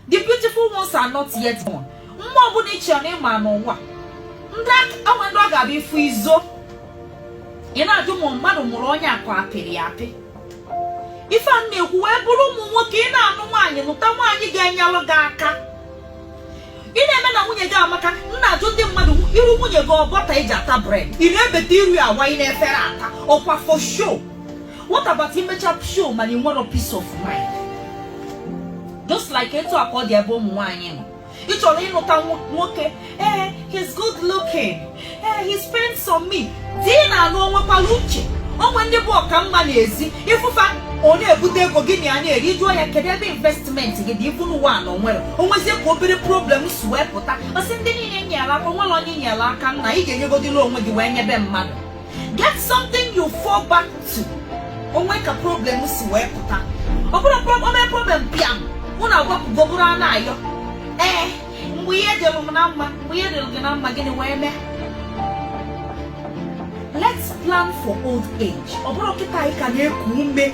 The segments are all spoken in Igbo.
the beautiful ones are not yet born mma ọbụla i che na ị ma n'ụwa ndị onwe ndị ọ ga-abụ ị fụ i zoo ị na-ajụ ma ọ mmadụ mụrụ onye a ka ọ apịrị ya apị ife a na-ekwu wee bụrụ ụmụ nwoke ị na-anụ nwaanyị nụta nwaanyị ga-enyelụ gị aka ị na-eme na nwunye gị amaka m na-ajụ ndị mmadụ iru nwunye gị ọ butter eji ata bread ị na-ebeta iru ya awanye n'efere ata ọkwa for show what about imecha show mana ị nwerọ peace of mind just like etu a ka ọ dị ebe ụmụ nwaanyị nọ ị chọrọ ịnụta nwoke ee eh, he's good looking Ee, he spends on me. Di ị na-anụ o nwekwara uche. Onwe ndị bụ ọka mma n'ezi ị fụ fa ọ na-ebute ego gị na ya na-eri jụọ ya kedu ebe investment gị dị ị fụ n'ụwa a na onwerọ onwezie ka obere problem si wee pụta ọ sị ndị niile nyere aka onwerọ onye nyere aka nna ị ga-enyegodịla onwe gị wee nyebe mmadụ get something you fall back to onwe ka problem si wee pụta ọ bụrụ problem problem pịam unu agwapụgo bụrụ a na-ayọ ee mgbe ihe dịrụ m na mma mgbe ihe dịrụ gị na mma gịnị wee mee let's plan for old age ọ bụrọ kịta anyị ka na-eku ume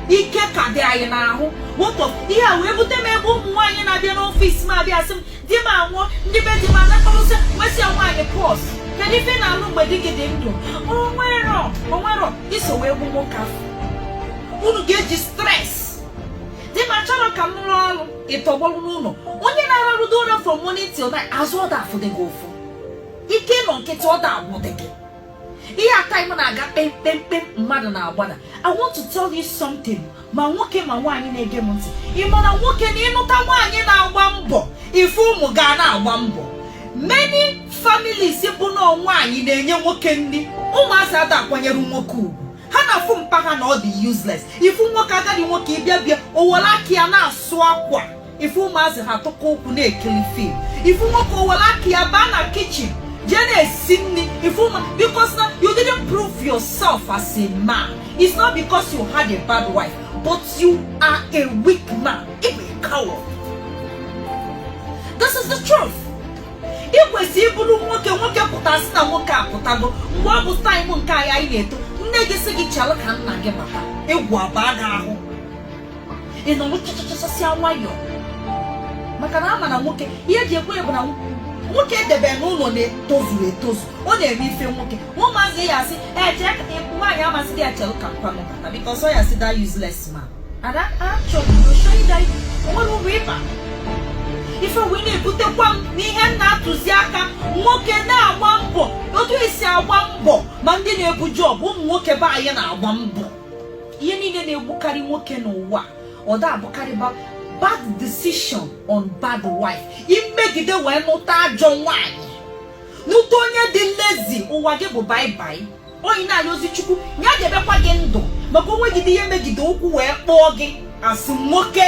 ike ka dị anyị n'ahụ what of ihe a wee bute m ebe ụmụ nwaanyị na-abịa n'office m abịa sị m di m anwụọ ndị be di m anakọrọsị nwesịa nwaanyị pause kedu ife ị na-alụ mgbe di gị dị ndụ onwerọ onwerọ i so wee gbu nwoke afụ unu ga-eji stress di m achọrọ ka m rụọ ọrụ ị tọgbọrọ n'ụlọ onye na-ararụdo ụra from morning till night azụ ọ da-afụdị gị ụfụ ike ịnọ nkịtị ọ da-agwụdị gị ihe a time na-aga kpem kpem kpem mmadụ na-agbada I want to tell you something ma nwoke ma nwaanyị na-ege m ntị ị ma na nwoke na ị nụta nwaanyị na-agba mbọ ị fụ ụmụ gị ana-agba mbọ many families bụ na ọ nwaanyị na-enye nwoke nri ụmụazị ada akwanyere nwoke ugwu ha na-afụ mpa ha na ọ dị useless ị fụ nwoke agadi nwoke ị bịa bịa o were aka ya na-asụ akwa ị fụ ụmụazị ha tụkọ ụkwụ na-ekiri film ị fụ nwoke o were aka ya baa na kitchen jee na-esi nri ị fụ ụmụ because na you didn't prove yourself as a man it's not because you had a bad wife but you are a weak man ị bụ a coward this is the truth ị kwesịrị ịbụrụ nwoke nwoke pụta asị na nwoke apụtago mgbe ọ bụ time nke anyị anyị na-eto nne gị sị gị chelụ ka nna gị bata egwu abaa gị ahụ ị nọrọ chachachasịa nwayọọ maka na ama na nwoke ihe eji ekwu bụ na nwoke edebe n'ụlọ na-etozuru etozu ọ na-eme ife nwoke ụmụazị ya asị eje nwaanyị ama asịdị ya chelụ ka mpa unu bata because ọ ya-asị that useless man ada achọrọ to show you that o nwere uru ị ba ife wee na-ebutekwa m n'ihe m na-atụzi aka nwoke na-agba mbọ otu esi agba mbọ ma ndị na-ebu job ụmụ nwoke be anyị na-agba mbọ ihe niile na-egbukarị nwoke n'ụwa ọ da abụkarịba bad decision on bad wife i megide wee nụta ajọ nwaanyị nụta onye dị lazy ụwa gị bụ bye bye onye na-ayọzi chukwu ya debekwa gị ndụ maka o nwegide ihe megide ụkwụ wee kpọọ gị asị nwoke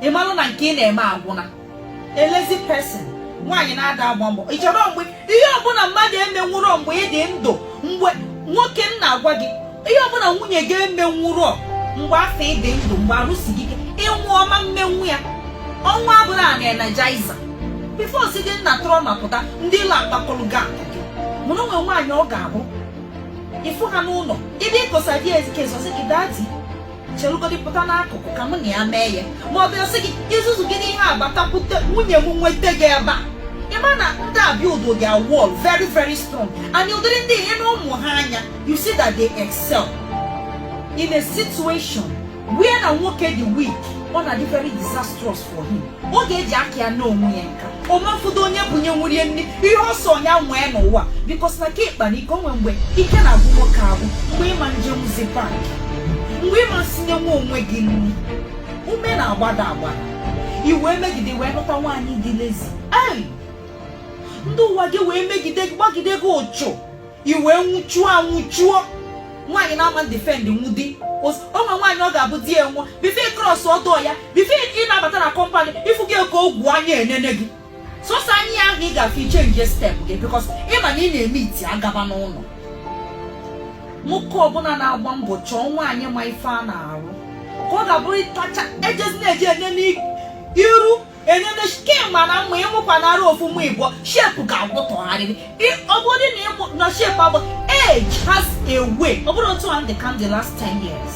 ị malụ na nke ị na-eme agwụna a lazy person nwaanyị na-ada agba mbọ ị chọrọ mgbe ihe ọbụla mmadụ emenwụrọ mgbe ị dị ndụ mgbe nwoke m na-agwa gị ihe ọbụla nwunye gị emenwurọ mgbe afụ ị dị ndụ mgbe arụ si gị ike ị nwụọ ọ ma mmenwu ya ọnwa abụrụ a na-energiza before si dị nna tụrụ ma pụta ndị ilo akpakọrọ gị akụ gị mụrụ o nwe nwaanyị ọ ga-abụ ị fụ ha n'ụlọ ịdị ịkọsa di ezike ọ sị gị daddy chelugodi pụta n'akụkụ ka mụ na ya mee ya ma ọ bịa sị gị izuzu gị n'ihe agbatakwute nwunye m nweta gị ebe a ị ma na ndị a build their wall very very strong and ụdịrị ndị i nee ụmụ ha anya you see that they excel in a situation where na nwoke dị weak ọ na-adị very disastrous for him ọ ga-eji aka ya n'onwe ya nka ọ ma afụdo onye bunyenwuru ya nri ihe ọ sọ nya nwee n'ụwa because na ka ị kpana ike o nwe mgbe ike na-agwụ nwoke agwụ mgbe ị ma njenwuzi bank mgbe ị ma sinyenwu onwe gị nri ume na-agbada agbada i wee megide wee nụta nwaanyị dị lazy ei ndị ụwa gị wee megide gị gbagide gị ụchụ i wee nwụchuo anwụchuo nwaanyị na-ama defend nwu di o nwe nwaanyị ọ ga-abụ di ya nwụọ before ị cross ọdọ ya before ị na-abata na compound ị fụ gị ka ogwu anya enene gị sọsọ anya ahụ ị ga-afụ ị change step gị because ị ma na ị na-eme iti agaba n'ụlọ nwoke ọbụla na-agba mbọ chọọ nwaanyị ma ife a na-arụ ka ọ ga-abụrụ ịtacha ejezi na-eji enene iru enene skin mana mma ị mụkwanara ofu mụ ịbụọ shape ga-agwụ tụgharịrị ọ bụrụ na ịmụ na shape abụ age has a way ọ bụrụ otu a dị ka the last 10 years